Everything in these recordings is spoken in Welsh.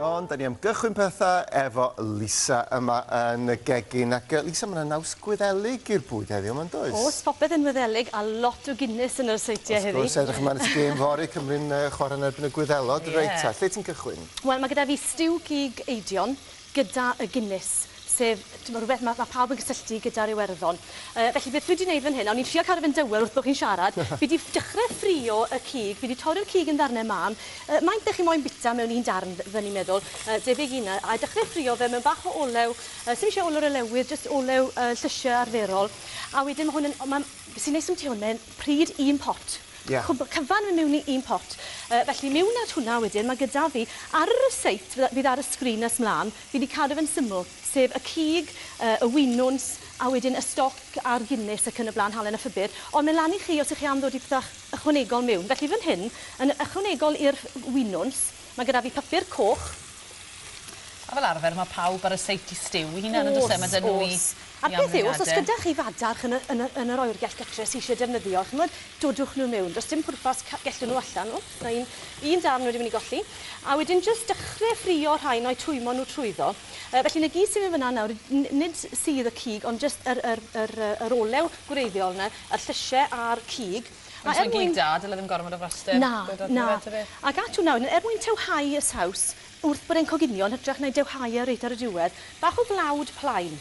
Ond da ni am gychwyn pethau efo Lisa yma yn y gegin. Ac Lisa, mae yna naws gwyddelig i'r bwyd heddiw yma'n does? Os popeth yn wyddelig a lot o Guinness yn yr seidiau heddi. Os gwrs, edrych ymlaen at y gêm fory, Cymru'n chwarae yn erbyn y Gwyddelod. Reit ta, lle ti'n cychwyn? Wel, mae gyda fi stiw cig eidion, gyda y Guinness, sef, timod, rhywbeth ma' ma' pawb yn cysylltu gyda'r Iwerddon. Yy, felly beth fi 'di neud fan hyn, a o'n i'n trio cadw fe'n dywel wrth bo' chi'n siarad, fi 'di dechre ffrio y cig, fi 'di torri'r cig yn ddarne mân, yy, maint 'dych chi moyn bita mewn un darn, f- fy'n i'n meddwl, yy, debyg i 'na, a dechre ffrio fe mewn bach o olew, yy, sdim isie olew relewydd, jyst olew, yy, llysie arferol, a wedyn ma' hwn yn, o, ma'n, be' sy'n neis ambyty hwn, mae'n pryd un pot. Ie. Cwbl cyfan mewn i un pot. Yy felly mewn at hwnna wedyn ma' gyda fi ar y ryseit fy- fydd ar y sgrin nes mlan fi 'di cadw fe'n syml sef y cig yy y winwns a wedyn y stoc a'r Guinness ac yn y bla'n halen a phupur ond mae lan i chi os 'ych chi am ddod i pethau ychwanegol mewn. Felly fan hyn yn ychwanegol i'r winwns ma' gyda fi papur coch A fel arfer ma' pawb ar y seit i stiw 'i hunan on'd o's e? Ma' 'da nw 'u... O's o's. A beth yw, os oes gyda chi fadarch yn y, yn y, yn yr oergell gytre sy isie defnyddio, ch'mod, dodwch nhw mewn. Does dim pwrpas ca- gellwn nhw allan. O, ma' un, un darn wedi myn' i golli. A wedyn jyst dechre ffrio rhain a'u twymo nhw trwyddo. Yy, felly 'na gyd sydd mewn fan'na nawr, n- nid s- sudd y cig, ond jyst yr, yr, yr, yy, yr olew gwreiddiol 'na, y llysie a'r cig. A Ond er os mae'n mwyn... gig da, dyle ddim gormod o frastin. Na, na. Ac atu nawr, er mwyn tewhau y saws, Wrth bod e'n coginio yn hytrach na dewhau e reit ar y diwedd. Bach o flawd plaen.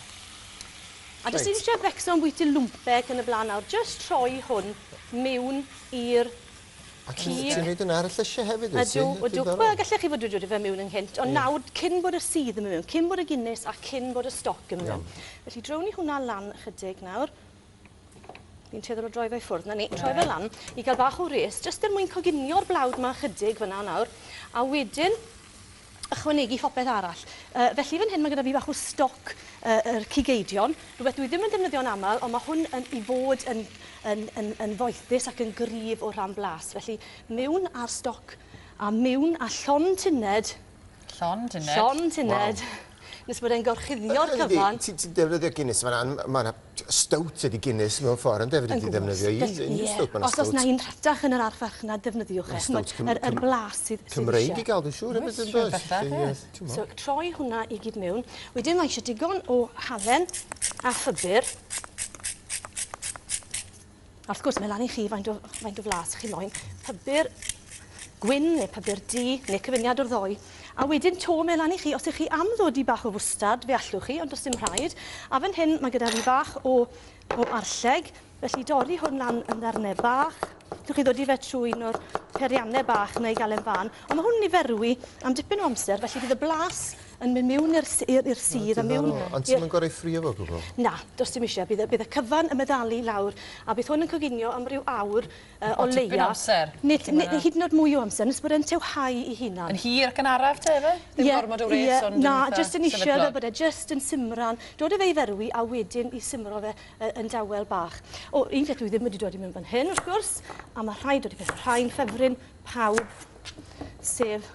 A does dim isie becso am bwyty lwmpe ac yn y blaen nawr, jyst rhoi hwn mewn i'r cig. A ti'n neud hwnna ar y llysie hefyd wyt ti? Ydw, ydw. Wel gallech chi fod wedi rhoi fe mewn ynghynt, ond nawr cyn bod y sudd yn mynd mewn, cyn bod y Guinness a cyn bod y stoc yn mynd mewn. Felly drown ni hwnna lan ychydig nawr. Ni'n tueddol o droi fe ffwrdd, na ni, troi fe lan i gael bach o res, jyst er mwyn coginio'r blawd ma chydig fyna nawr, a wedyn ychwanegu phopeth arall. Uh, felly fan hyn mae gyda fi bach o stoc uh, yr cigeidion, rhywbeth dwi ddim yn defnyddio'n aml, ond mae hwn yn, i fod yn, yn, yn, yn foethus ac yn gryf o rhan blas. Felly mewn ar stoc a mewn a llon tuned Llond uned. Llond uned. Wow. Nes bod e'n gorchuddio'r cyfan. Ti'n ti defnyddio Guinness yma, mae yna stout ydi Guinness mewn ffordd, yn defnyddio ti defnyddio i un stout, mae yna stout. Os na un rhatach yn yr arfarchnad, defnyddiwch e. Stout Cymreig. Yr blas sydd eisiau. Cymreig i gael, dwi'n siŵr, hefyd yn does? So, troi hwnna i gyd mewn. Wedyn mae eisiau digon o halen a phupur. A wrth gwrs, mae lan i chi faint o, faint o flas chi moyn. Pybur gwyn neu pybur du, neu cyfuniad o'r ddoi. A wedyn to, mae lan i chi, os ych chi am ddod i bach o fwstard, fe allwch chi, ond does dim rhaid. A fan hyn, mae gyda fi bach o, o arlleg, felly dorri hwn lan yn ddarnau bach. Llwch chi ddod i fe trwy un o'r periannau bach neu gael e'n fan. Ond mae hwn yn niferwi am dipyn o amser, felly bydd y blas yn mynd miwn i'r i'r sir a miwn... Diddorol. Ond ti'm yn gor'o' 'i ffrio fo gwbwl? Na, do's dim isie. Bydd y bydd y cyfan yn meddalu lawr a bydd hwn yn coginio am ryw awr yy o leia. O tipyn o amser. Nid ne- ne- hyd yn o'd mwy o amser nes bod e'n tieuhau 'i hunan. Yn hir ac yn araf te yfe? Ie. Dim gormod o wres ond yn itha sefydlog. Ie ie na jyst yn ishte fel bod e jyst yn simran. Dod â fe i ferwi a wedyn 'i simro fe yy yn dawel bach. O un peth dwi ddim wedi dod i mewn fan hyn wrth gwrs a ma' rhaid dod i mewn rhai'n ffefryn pawb sef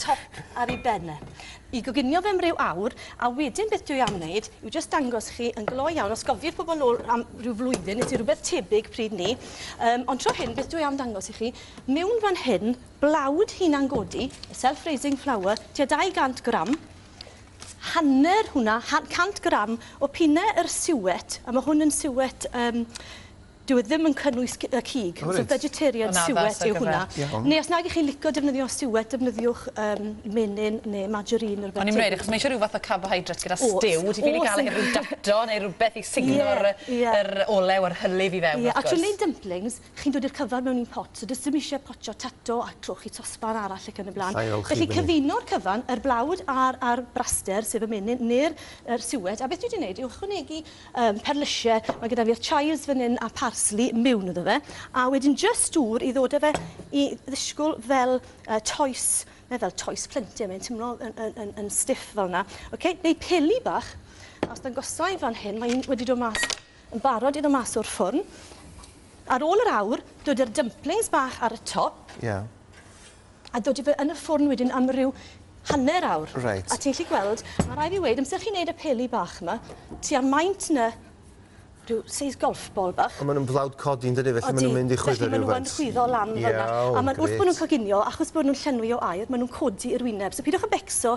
top ar ei ben e, i goginio fe am ryw awr, a wedyn beth dwi am wneud yw jyst dangos chi yn glo iawn, os gofiwch pobl nôl am ryw flwyddyn, nes i rhywbeth tebyg pryd ni, um, ond tro hyn beth dwi am dangos i chi, mewn fan hyn, blawd hunan godi, y self-raising flower, tua 200 gram, hanner hwnna, 100 gram o pine yr siwet, a mae hwn yn siwet um, Dyw e ddim yn cynnwys c- yy cig. O reit. So vegetarian Ma'n addas suet ar yw gyfer- hwnna. Ie. Iawn. Neu os nag 'ych chi'n lico defnyddio suet defnyddiwch yym menyn ne' margarine ne' rwbeth O'n i'n myn' i weud achos ma' isie ryw fath o carbohydrate gyda O's. stiw ti ffili O's. ga'l e heb ryw dato neu rwbeth i sugno'r Ie, yy ie. yr olew a'r hylif i fewn Ie wrth a trw gwrs. neud dymplings chi'n dod i'r cyfan mewn un pot so do's dim isie potsio tato a trwch i sosban arall ac yn y bla'n. Alla i olchi Felly fynny. cyfuno'r cyfan yr blawd a'r a'r braster sef y menyn ne'r yr suet a beth dwi 'di neud yw ychwanegu Yym perlysie, mae gyda fi'r chives fan hyn a parsley miwn iddo fe, a wedyn jyst dŵr i ddod â fe i ddisgwl fel yy toes, neu fel toes plentyn, mae'n timlo yn yn yn yn stiff fel 'na. Oce, neu peli bach, a os dangosai fan hyn, mae un wedi dod mas yn barod i ddod mas o'r ffwrn. Ar ôl yr awr, dod â'r dumplings bach ar y top. Ie. a dodi fe yn y ffwrn wedyn am ryw hanner awr. Reit. A ti'n gallu gweld, ma' rai' fi weud, amser chi'n neud y peli bach 'ma, tua maint 'na rhyw seis golf ball bach. A ma' nw'n flawd codi yndydi felly ma' nw'n mynd i chwyddo rywfaint. Odi, felly ma' nw yn chwyddo lan fel 'na. Iawn, grêt. A ma'n wrth bo' nw'n coginio, achos bo' nw'n llenwi o aer, ma' nw'n codi i'r wyneb, so pidiwch â becso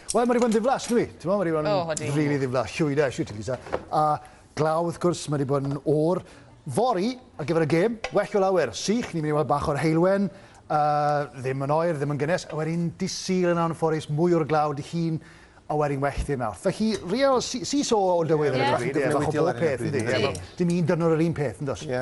Wel, mae rhyw fo'n ddiflas, yndyw 'i? T'mo', mae rhyw fo'n... O, odi. ...rili ddiflas. Shwyd e, shwt ti'n byta. A glaw, wrth gwrs, mae 'di bod yn oer. Fory, ar gyfer y gêm, well o lawer. Sych, ni'n mynd i weld bach o'r heulwen, yy, ddim yn oer, ddim yn gynnes, a wedyn Dydd Sul yn anffodus, mwy o'r glaw, Dydd Llun, a wedyn well ddi'r Mawrth. Felly, real see-saw o dywydd ar hyn o bryd, ie, bach o bob peth, yndy? Ie. Ie, wel, dim un dyrnod yr un peth, yn does? Ie.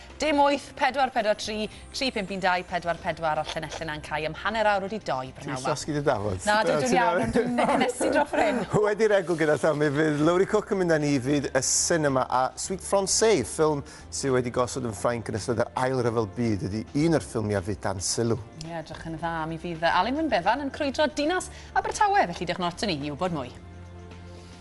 Dim 8, 4, 4, 3, 3, 5, 1, 2, 4, 4 a'r llinellau na'n cau am hanner awr wedi doi, prynawn Ti'n llosgi dy dafod. Na, dwi dwi'n iawn, ond dwi'n negenesu dros hyn. Wedi regl gyda llaw mi fydd Lowri Cook yn mynd â ni i fyd y sinema a Suite Francais, ffilm sydd wedi gosod yn Ffrainc yn ystod yr Ail Ryfel Byd, ydy un o'r ffilmiau fydd dan sylw. Ie, edrych yn dda. Mi fydd Alun Wyn Bevan yn crwydro dinas Abertawe, felly diolch yn fawr i ni i wybod mwy.